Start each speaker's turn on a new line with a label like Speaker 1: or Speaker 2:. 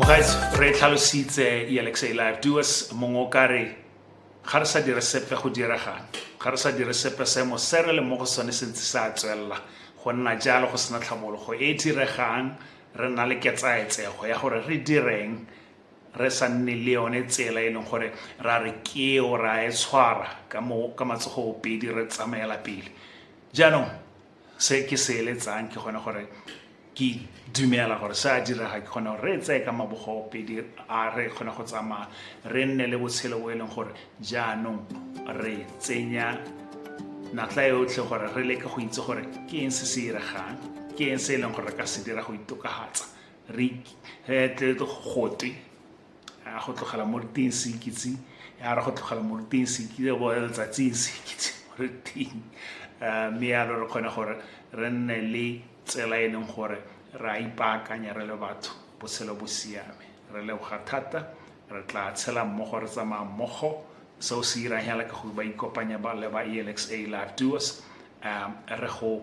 Speaker 1: guys re tlhalositse elexay live duas mongwe o kare ga re sa dire sepe go diregang ga re sa dire sepe seemo se re le mo go sone se ntse sa tswelela go nna jalo go sena tlhabologo e diregang re nna le ketsaetsego ya gore re direng re sa nne le yone tsela e leng gore ra re keo ra e tshwara ka mo ka matsogo pedi re tsamaela pele jaanong se ke se eletsang ke gone gore ke dumela gore se a direga ke kgone gore re tseye ka mabogo pedi a re kgone go tsamaya re nne le botshelo bo e leng gore jaanong re tsenya natla yotlhe gore re leke go itse gore ke eng se se iregang ke eng se e leng gore re ka se dira go itokagatsa re tle gote ya go tlogela mo diteng sekitse ya re go tlogela mo diteng sekitse bo letsatsing sekitse re teng eh, mme ya re kgone gore re nne le tsela e leng gore re a ipaakanya re le batho botshelo bo siame re leboga thata re tla tshela mmogo re tsamaya mmogo seo se irang hela ka gore ba ikopanya ba le ba elxa live duos um re go